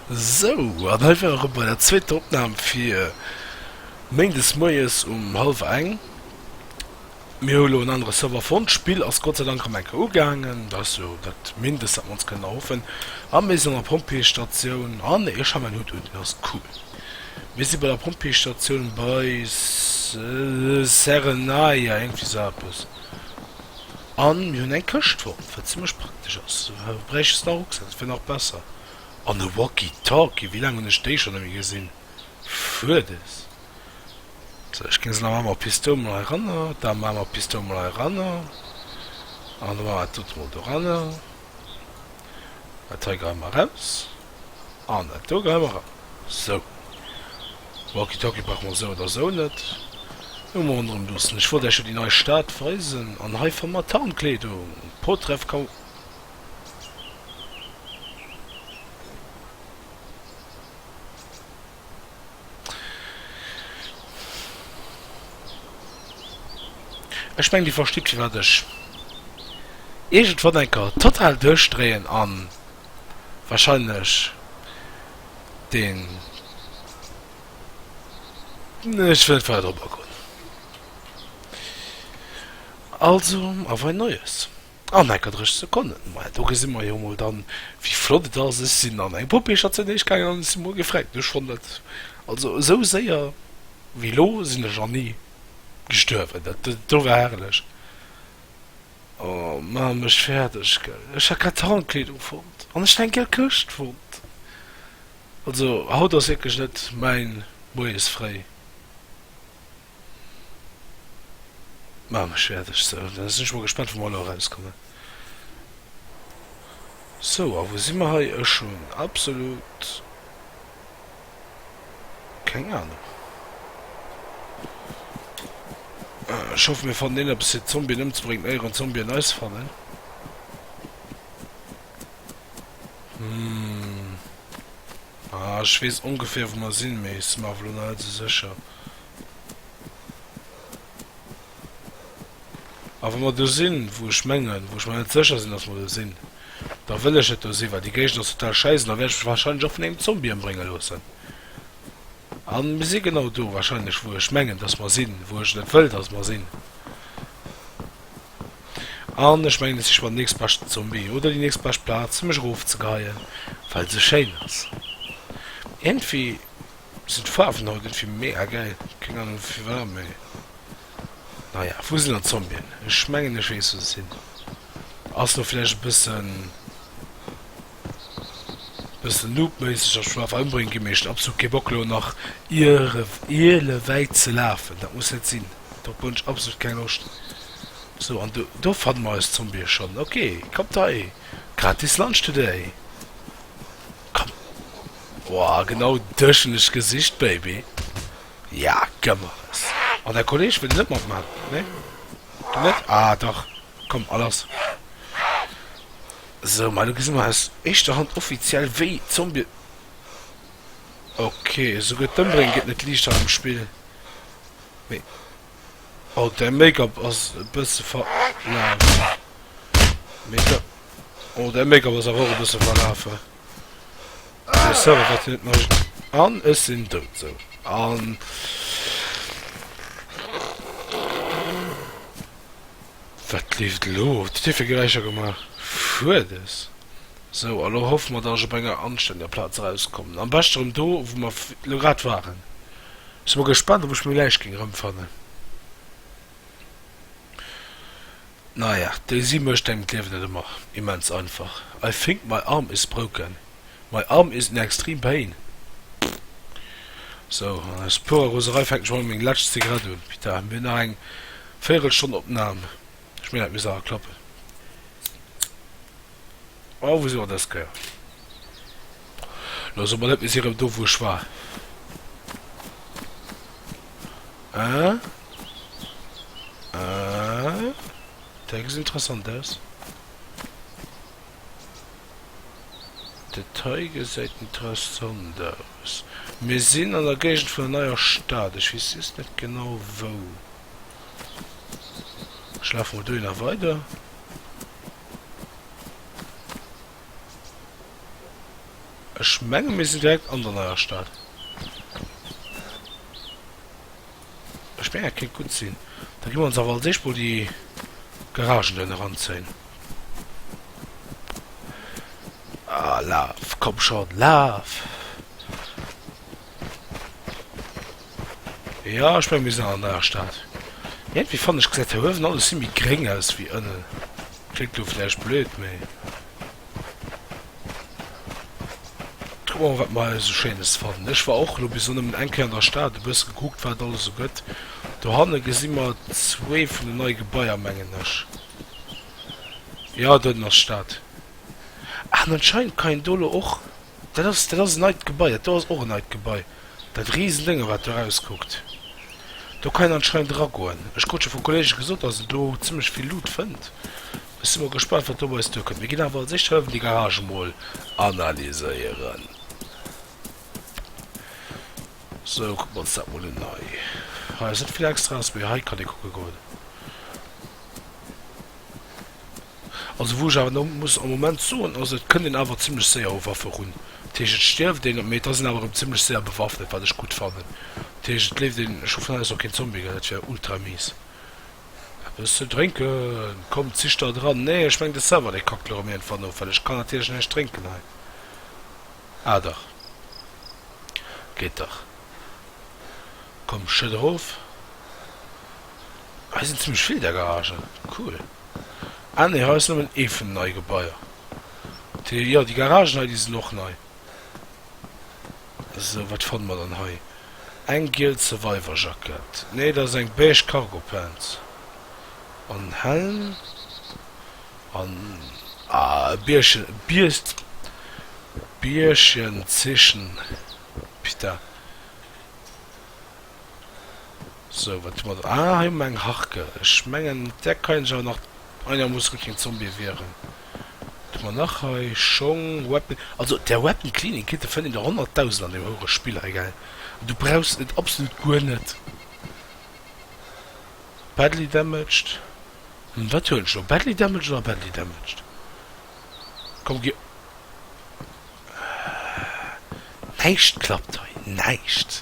Sou, an hei ware mer bei der zweeter Opnam fir méindes moies um hallwer eng. Mir hu lo en anere Server fonnt. D'Spill ass Gott sei Dank am enke ugaangen, dat ass jo dat Mindest, wat mer ons kënnen erhoffen. A mir sinn an der Pompjeestatioun. Ah nee, ech hu mäin Hutt un, deen ass cool. Mir si bei der Pompjeestatioun bei Serenayah, iergendwéi sou eppes. An mir hunn eng Këschtform, wat zimlech praktesch ass, du bräiches nach e Rucksak, dat wier nach besser. An e Walkie-Talkie, wéi laang hunn ech déi schonn nemme gesinn? Fuerdes! Sou, ech ginn se nach eemol, Pistoul mol heiranner, da maache mer Pistoul mol heiranner, an da maache mer dat dote mol doranner, dat hei geheie mer eraus. An et goung ëmmer erëm sou, Walkie-Talkie brauch mer sou oder sou net. Hu mer ronderëm loossen. Ech wollt Äech jo déi nei Stad weisen, an hei fannt mer Tarnkleedung, Potreff kann. Ech mengen Dir verstitt firwat ech iergendwann eng Kéier total duerchdréien a wahrscheinlech den, nee ech wëll net weider drop agoen. Also, auf ein neues. An enker 30 Sekonnen, maja do gesi mer jo mol dann wéi flott et ass. Ech sinn an eng Poupée-Station heesch gaangen an ech si mol gefregt ginn. Ech fonnt dat, also esou séier wéi elo sinn ech nach ni gestuerwen, dat do war herrlech. Oh maach mech fäerdeg gell, ech hat grad Tarnkleedung fonnt an ech hat eng gëll Këscht fonnt. Also haut ass wierklech net mäin Moies fréi. Maan ech wärt ech se. Dann sin ech mol gespannt wou mer elo eraus kommen. Sou a wou si mer hei? Ech hun absolut keng Ahnung. Ech hoffen mir fannen een eppes fir d'Zombien emzebréngen éier en Zombien eis fannen. Hum. Ah, ech weess ongeféier wou mer sinn, mee ech si mer awer elo nach net esou sécher. A wa mer do sinn, wou ech mengen, wou ech mer net sécher sinn, dass mer do sinn, da wëll ech net do sinn, well déi Géigend ass total schäiss an da wäert ech mech wahrscheinlech och vun engem Zombie ëmbrénge loossen. A mir si genau do wahrscheinlech, wou ech mengen, dass mer sinn, wou ech net wëll, dass mer sinn. An ech mengen, et siche mer den nächstbeschten Zombie oder déi nächstbescht Plaz, fir mech erofzegeheien, well se schéin ass. Iergendwéi sinn d'Faarwen haut iergendwéi mega gäil. Keng Ahnung firwat, mä naja. Wou sinn dann d'Zombien? Ech mengen, ech weess, wou se sinn. Ass lo vläicht e bëssen bëssen loopméisseg a schwaach ëmbréngen gi, mee ech hunn absolut kee Bock lo nach iere iele wäit ze lafen, dat muss net sinn, dorop hunn ech absolut keng Loscht. Sou, an do do fanne mer eis Zombie schonn, ok, kommt hei, gratis Lunch today, komm, oah, genau dech hunn ech gesicht baby, ja gëmmeres, an däi Kolleg wëll net matman, nee, du net, ah dach. Komm alles sou mei lo gesi mer aus éischter Hand offiziell wéi Zombie ok souguer d'Ëmbrénge gëtt net liichter am Spill mee oh däi Make-up ass e bësse verlaf mee da oh däi Make-up ass awer och e bësse verlafe dee Server wat hien net mécht an ech sinn dout sou an. Wat leeft elo? Hutt Dir dofir Geräischer gemaach? Fuerdes! Sou, a lo hoffe mer, datt ech op enger anstänndeger Plaz erauskommen. Am beschte rëm do, wou mer elo grad waren. Ech si mol gespannt, ob ech meng Läich géing erëmfannen. Naja, déi si mécht engem d'Liewen net ëmmer immens einfach. I think my arm is broken. My arm is in extreme pain So, an aus purer Roserei fänken ech mol meng lescht Zigarett un. Pita, mir hunn nach eng Véierelstonn Opnam. Ech mengen, dat misst awer klappen. Oh, wou si mer dës Kéier? Lo so mer net, mir si erëm do, wou ech war. Hein? Hein? Däi gesäit interessant aus. Dat hei gesäit interessant aus. Mir sinn an der Géigend vun der Neier Stad. Ech weess just net genau wou. Ech lafe mol dohinner weider. Ech menge mir sinn direkt an der Neier Stad. D'Späer kéint gutt sinn. Da gi mer ons awer als éischt mol déi Garagen do hinne ranzéien. Ah, laf! Komm schonn, laf! Jo, ech mengen, mir sinn an der neier Stad. Iergendwéi fannen ech, gesäit hei uewen alles vill méi gréng aus wéi ënnen. Kléckt do vläicht blöd, mee kucke mer mol wat mer hei sou schéines fannen. Ech war och lo bis elo nëmmen eng Kéier an der Stad, e bësse gekuckt wat et alles sou gëtt. Dohanne gesi mer zwee vun den nei Gebaier mengen ech. Jo doten ass d'Stad. An anscheinend kann een do lo och. Dat ass, dat ass en neit Gebai. Dat do ass och en neit Gebai, dat Risendénge wat do erauskuckt. Do kann een anscheinend eragoen. Ech krut scho vu Kolleege gesot, dass een do zimmlech vill Loot fënnt. Ech si mol gespannt, wat do op eis duerkënnt. Mir ginn awer als éischt hëllefen déi Garage emol analyséieren. Sou, kucke mer ons dat mol un hei. Hei ass net vill Extraes, mee hei kann ee kucke goen. Also wou ech awer elo muss am Moment soen, also et kënnt een awer zimlech séier u Waffe run. Dat heescht et stierft een, mee et ass een awer erëm zimlech séier bewaffnet, wat ech gutt fannen. Dat heescht et leeft een, ech hu vun haut aus och keen Zombie gehëll, dat wär ultra mies. Eppes ze drénken? Komm, zich der dran. Nee, ech mengen de Server dee kackt elo erëm iergendwann of, well ech kann natierlech näischt drénken hei. Ah dach, geet dach. Komm, schëtt erof. Hei sinn zimmlech vill där Garagen, cool. Ah nee, hei ass nëmmen ee vun den neie Gebaier. Déi, jo, déi Garagen hei, déi sinn och nei. Sou, wat fanne mer dann hei? Eng giel Survivor-Jackett, nee, dat ass eng beige Cargo-Pants. An en Helm an, ah, e Bierchen, e Biest, Bierchen, Zischen, pita. Sou wat hu mer do? Ah hei hu mer eng Harke. Ech mengen mat där kann ech awer nach, ah jo muss guer keen Zombie wieren. Wat hu mer nach hei? Schong, Weapon, also der Weapon Cleaning Kit de fënnt een der honnertdausend an dem houere Spill hei gell. An du brauchs et absolut guer net. Badly damaged, hm wat huelen ech elo? Badly damaged oder badly damaged? Komm gi, ah näischt klappt hei, näischt.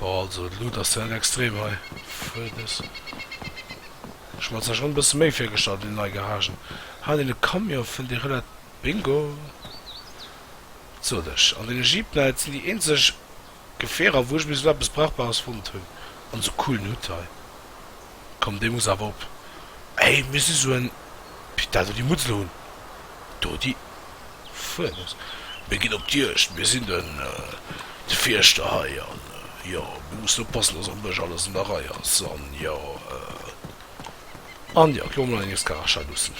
Bon also de Loot ass net extrem hei für des. Ech mat der schon bessen méi virgestallt wéi nei Garagen. Haa deen e Camion fënnt ee relat Bingo sot ech. An den Jeep nei et sinn déi eenzeg Gefierer wou ech bis elo eppes brauchbares fonnt hunn an sou coolen Hut hei. komm dee muss awer op hey mir si sou en pit dat elo déi mutz elo hunn do déi fueres mir ginn op d'juegd mir sinn den de fierschter hei an jo mir mussen oppassen dass am bësch alles an der rei ass an jo an jo elo mol eng escarachat luussen.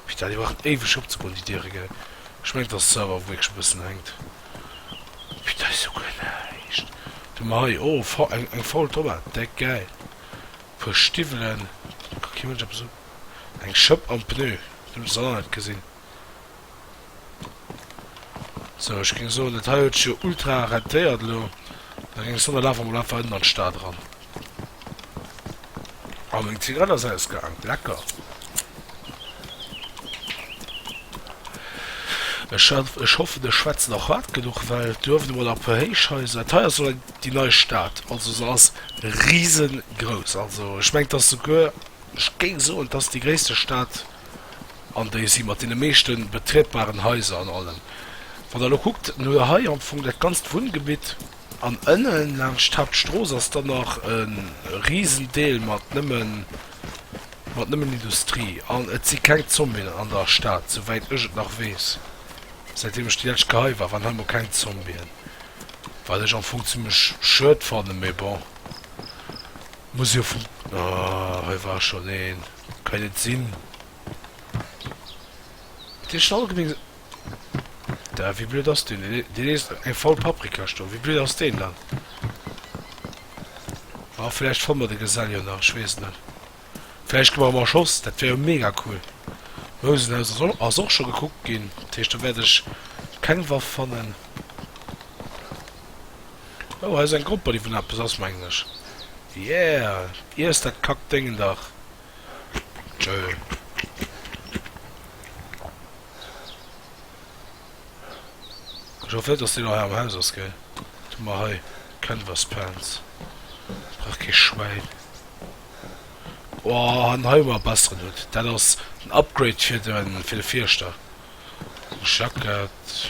Putain, déi brauchen éiweg opzegoen, déi Diere, gell? Ech mengen, et ass d'Server, wou wierklech e bëssen hänkt. Putain, dat ass jo guer näischt! Du, ma hei, oh, faul, eng, eng faul Tomat, deck, gäil. E puer Stiwwelen, ka kee Mënsch eppes un. Eng Schëpp am Pneu, du, dat ass aner net gesinn. Sou, ech géing soen, dat hei huet sech jo ultra rentéiert elo. Da géing ech soen, da lafe mer mol einfach ënnen an d'Stad eran. A meng Zigarett ass ausgaang. Lecker. Ech hat, ech hoffen, ech schwätze nach hard genuch, well duerft emol a puer Héichhaiser. Dat hei ass lo eng, déi nei Stad. Also se ass riesengrouss. Also ech mengen, 't ass souguer, ech géing soen, 't ass déi gréisste Stad an déi si mat deene meeschte betrietbaren Haiser an allem. Wann der elo kuckt, dann hutt der hei am Fong dat ganzt Wunngebitt, an ënne laanscht d'Haaptstrooss ass dann nach e risen Deel mat nëmmen, mat nëmmen Industrie. An et si keng Zombien an der Stad, souwäit ech et nach weess, säitdeem ech déi lescht Kéier hei war, waren hei emol keng Zombien, wat ech am Fong zimlech schued fannen, mee bon, muss jo fun, ah, hei war schonn een. Kënnt et sinn, datt Dir schonn allgemeng sinn? Dä, wéi blöd ass deen? Deen eescht eng faul Paprikasch do. Wéi blöd ass deen dann? Ah, vläicht fanne mer de Gesell jo nach, ech weess et net. Vläicht gi mer em erschoss, dat wär jo mega cool. D'Mousenhaus ass och, ass och scho gekuckt ginn, dat heescht, do wäert ech keng Waff fannen. Oh, hei ass eng Gropper, déi vun eppes ass, mengen ech. Yeah! Iess dat Kackdéngen dach! Ech hoffen net, dass deen nach hei am Haus ass, gell? Du mar hei Canvaspans. Brauch kee Schwäin. Oh, an hei hu mer e besseren Hutt. Dat ass den Upgrade fir de Fierschter. Jackett.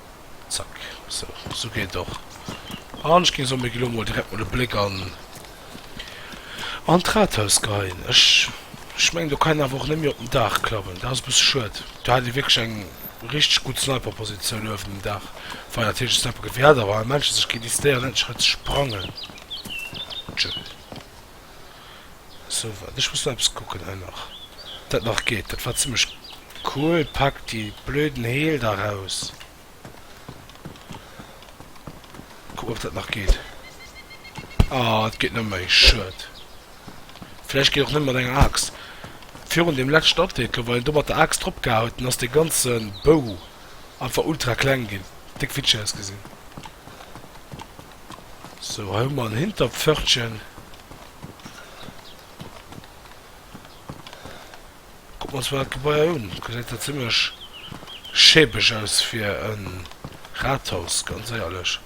Zack, sou. Sou geet et och. An ech ginn soen, mir ginn elo mol direkt mol e Bléck an, an d'Rathaus geheien. Ech, ech mengen, do kann een awer och net méi op den Daach klammen. Dat ass e bësse schued. Do hat ee wierklech eng richteg gutt Sniperpositioun uewen um Daach. Wei natierlech e Sniper-Gewehr hat, awer hei Menschen sech géint décidéieren, endlech erëm ze sprangen. Tschö. Sou, waart, ech muss nach eppes kucken hei nach, ob dat nach geet. Dat war zimmlech cool. Pack déi blöden Heel da raus. Kucken, ob dat nach geet. Ah, et geet net méi. Schued. Vläicht geet och net mat enger Aaxt. Virun deem leschten Update lo, wann een do mat der Aaxt drop gehae huet, dann ass dee ganze Bou einfach ultra kleng ginn. Déck Witcher ausgesinn. Sou, hei hu mer en Hinterpförtchen. Kucken mer ons mol dat Gebaier un. Gesäit jo zimmlech schäbeg aus fir e Rathaus, ganz éierlech.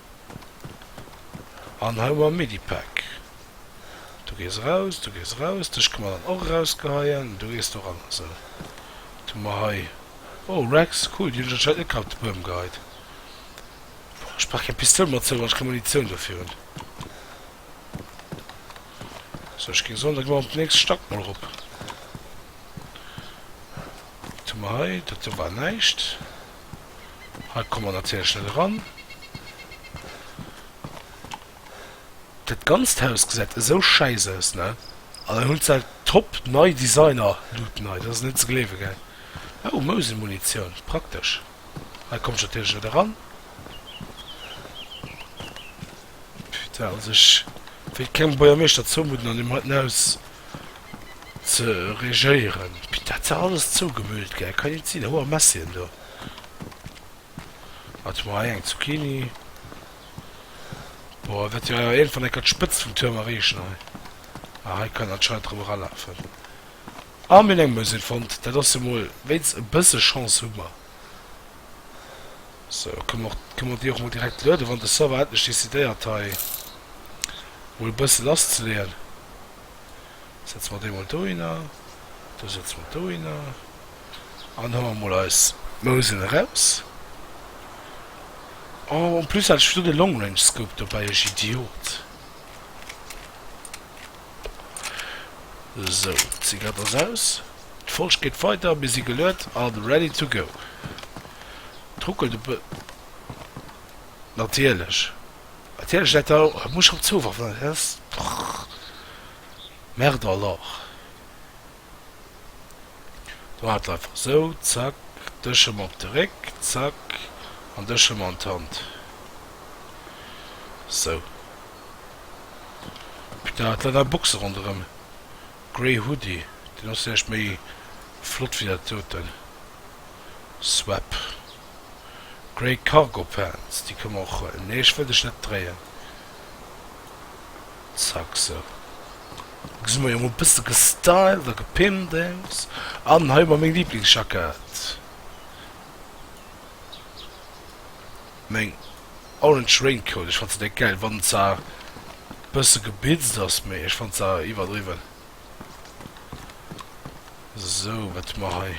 An hei hu mer e Medipak. Du gees eraus, du gees eraus. Dech kënne mer dann och erausgeheien. Du gees do ran. Sou, wat hu mer hei? Oh, Rex, cool, déi hunn ech anscheinend net gehabt, de Buerm geheit. Boah, ech brauch keng Pistoul mat zou, wann ech keng Munitioun dofir hunn. Sou, ech géing soen, da gi mer op den nächste Stack mol erop. Wat hu mer hei? Dat do war näischt. Hei komme mer natierlech net eran. Dat ganzt Haus gesäit esou schäiss aus, ne? An dann hunn se top nei Designer-Luten hei. Dat ass net ze gleewe, gell? Oh, Mouselmunitioun, praktesch. Hei komme ech natierlech net eran. Putain, also ech wéilt kengem Buergermeeschter zoumudden, an him heiten aus ze regéieren. Putain, dat ass dach alles zougemüllt, gell? Kann jo net sinn. Hoer Messien do. Wat hu mer hei? Eng Zucchini. Boah, et wäert jo awer iergendwann enker d'Spëtzt vum Tuerm erreechen hei. Ah, hei kann een anscheinend erëm eralafen. Ah mir hunn eng Mösel fonnt, dat ass jo mol wéinst e bësse Chance hu mer. So kënne mer och kënne mer déi och mol direkt lueden, wann de Server endlech decidéiert hei mol e bësse lass ze leeën. Setze mer déi mol dohinner, do setze mer dohinner an hu mer mol eis Mösel eraus. Oh en plus hat ech do de Long Range Scope dobäi, ech Idiot. Sou, d'Zigarett ass aus. D'Folg geet weider. Mir si geluet a ready to go. Et ruckelt e bë. Natierlech. Natierlech dat do. Et muss schonn zouwerfen. Dat ass drrrr. Merde alors. Do hat einfach sou. Zack. Dech ëm op de Réck. Zack. An dech ëm an d'Hand. Sou. Peter hat leider Boxen ronderem Grey Hoodie, deen ass vläicht méi flott wéi dat doten. Swap Grey Cargo Pants, déi kënne mer och huelen. Nee ech wëll dech net dréien. Zack sou. Lo si mer jo mol bësse gestylt a gepimpt aus. An hei hu mer meng Lieblingsjackett. Meng orange raincoat, ech fannt se deck gäil wann se bësse geblitzt ass, mee ech fannt se iwwerdriwwen. Sou wat hu mer hei?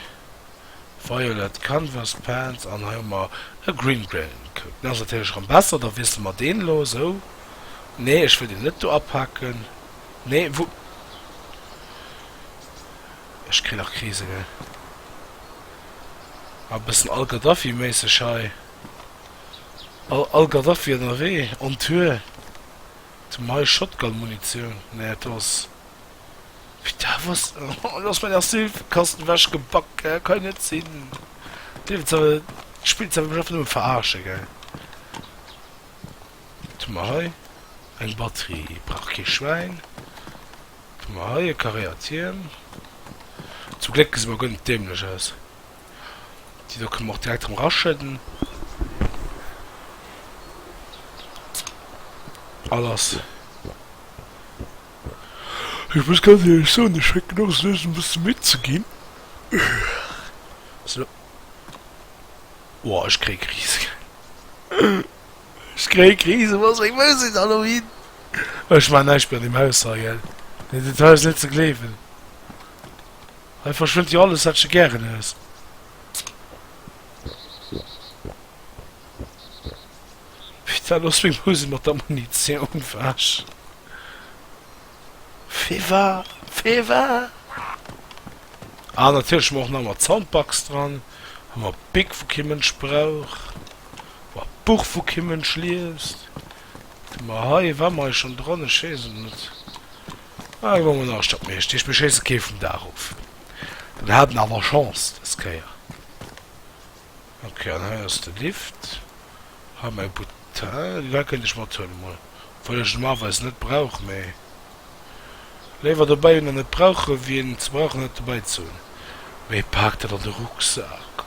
Violet canvas pants an hei hu mer e green raincoat. Deen ass natierlech rem besser, da wiessele mer deen elo. Sou, nee ech wëll deen net do apaken, nee wou? Ech kritt nach Krise gell, a bëssen al-Gaddafi méisseg hei. All Gaddafi ennerwee on Tour to my Shotgun Munitioun näet ass wéi da was oh lass mein Asylkasten wech gebak eh kann jo net sinn d'Liewen ze d'Spill ze mech einfach nëmme veraarschen gell to mer hei eng Batterie brauch kee Schwäin to mer hei e Carréer Tierm zum Gléck gesi mer guer net dämlech aus. Déi do kënnen mer och direkt erëm eraschëdden. All ass. Ech muss ganz éierlech soen, ech fänken och esou un e bësse midd ze ginn. Sou. Woah, ech kréie Krise. Ech kréie Krise, wou ass meng Musek dann elo hin? Ech maachen näischt méi an deem Haus hei, gell. Dat ass net ze gleewen. Hei verschwënnt jo alles, wat sche gären hues. Wéi war lo seng Musek mat der Munitioun? Wesh. Wéi war, wéi war? Ah, natierlech hu mer och nach emol d'Soundbox dran. Hu mer Bic, wou kee Mënsch brauch. Hu mer Buch, wou kee Mënsch liest. Wat hu mer hei? War mer hei schonn dran? Ech weess et net. Mä ech war un all Stadt Meeschter, ech beschéisse kee vum Daach of. Dann hat en awer Chance des Kéier. Ok, an hei ass de Lift. Hei mäi Button, deen hei kënnt ech mathuelen emol, obwuel ech en normalerweis net brauch, mä léiwer dobäi hunn a net brauchen, wéi en ze brauchen huet dobäi ze hunn. Mee paakt dat an de Rucksak.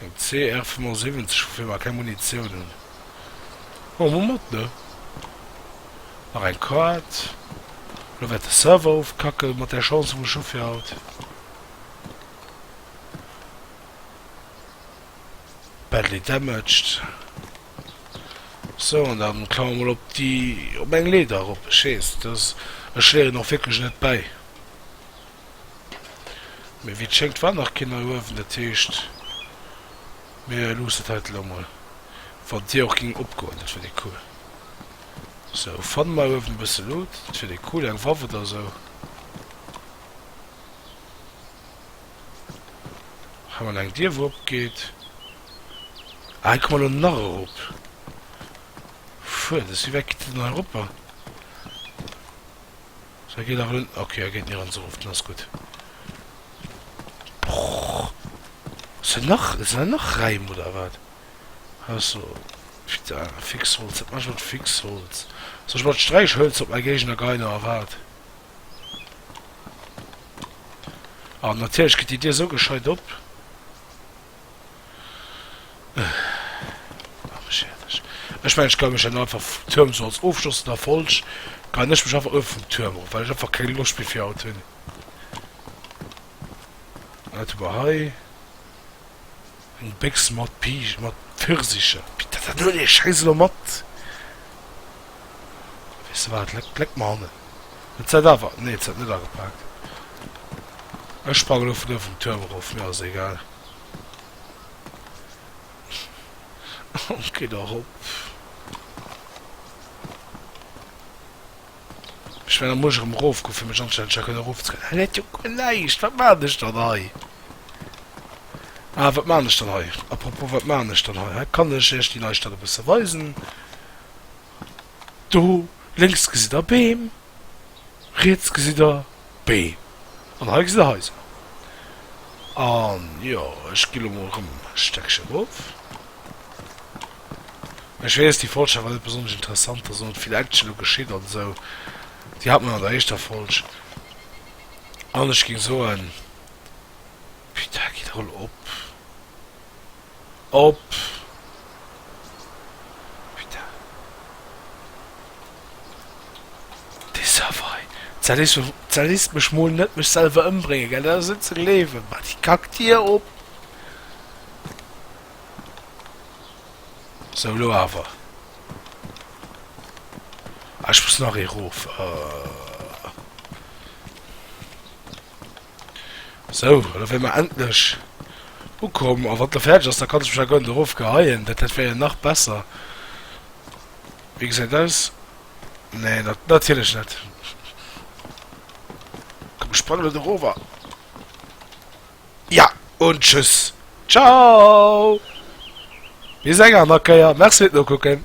Eng CR 75 woufir mer keng Munitioun hunn hu mer mat ne? Nach eng Quad lo wäert de Server ofkacken mat där Chance vum Chauffer haut. Badly damaged sou an dann klamme mer mol op déi op eng Leeder erop. Ech weess dass ech léieren och wierklech net bäi. Mee wéi et schéngt war nach keen hei uewen, dat heescht mir luussen et hei elo mol. Wann Dir och ging opgoen, dat wier déi cool. Sou, fanne mer uewen e bësse Luut, dat wier déi cool, eng Waff oder sou. Hei mol eng Dier wou opgeet. Ah hei komme mer elo nach erop. Fuertes, wéi wäit geet et dann hei eropper? Sou geet awer net ok, geet nirgends erof, dann ass gutt. Brrrr ass do nach, sinn do nach Räim oder wat? Hei ass do putain Fixholz, wat maachen ech mat Fixholz? Soll ech mer d'Sträichhölzer op mäi Géigner geien oder wat? Ah natierlech geet déi Dier esou gescheit op. Ech mengen ech kann mech dann einfach vum Tuerm sou als ofschlossend Erfolg kann ech mech einfach ëf vum Tuerm erof well ech einfach keng Loscht méi fir haut hunn. Wat hu mer hei? Eng Béchs mat Pij mat Pfirsicher. Pit dat huel ech scheiss elo mat. Weess de wat, leck leck mer hannen. Et seit awer, nee et seit net agepaakt. Ech sprangen lo vun do vum Turm erof, mir ass egal. Gin och op. Ech well am Muerge rem erof goen fir mech anzestellen fir kënnen erof ze kommen. Hei läit jo guer näischt, wat maan ech dann hei? Ah wat maan ech dann hei? Apropos wat maan ech dann hei? Hei kann ech iech déi Neistadt e bësse weisen. Do lénks gesitt der Beem, riets gesitt der Beem an hei gesitt der Haiser. An jo, ech gi lo mol erëm e Stéckche rof. Ech weess, déi Folg war net besonnesch interessant, ass och net vill Action do geschitt an esou. Déi hat mer an der éischter Folg. An ech géing soen, Putain, gitt rol op! op dee Server hei. Tsa lisst mech mol net mech selwer ëmbréngen, gell? Dat ass net ze gleewen. Mat déi Kackdier op. Sou, lo awer. Ah, ech muss nach ee rof. Ahh. Sou, elo wär mer endlech ukomm. A wann d'elo fäerdeg ass, da kann ech mech agoen erof geheien. Dat dat wär jo nach besser. Wéi gesäit aus? Nee, na natierlech net. Komm, ech sprangen elo do rower. Ja, un tschüss. Ciao! Bis eng aner Kéier. Merci fir d'Nokucken.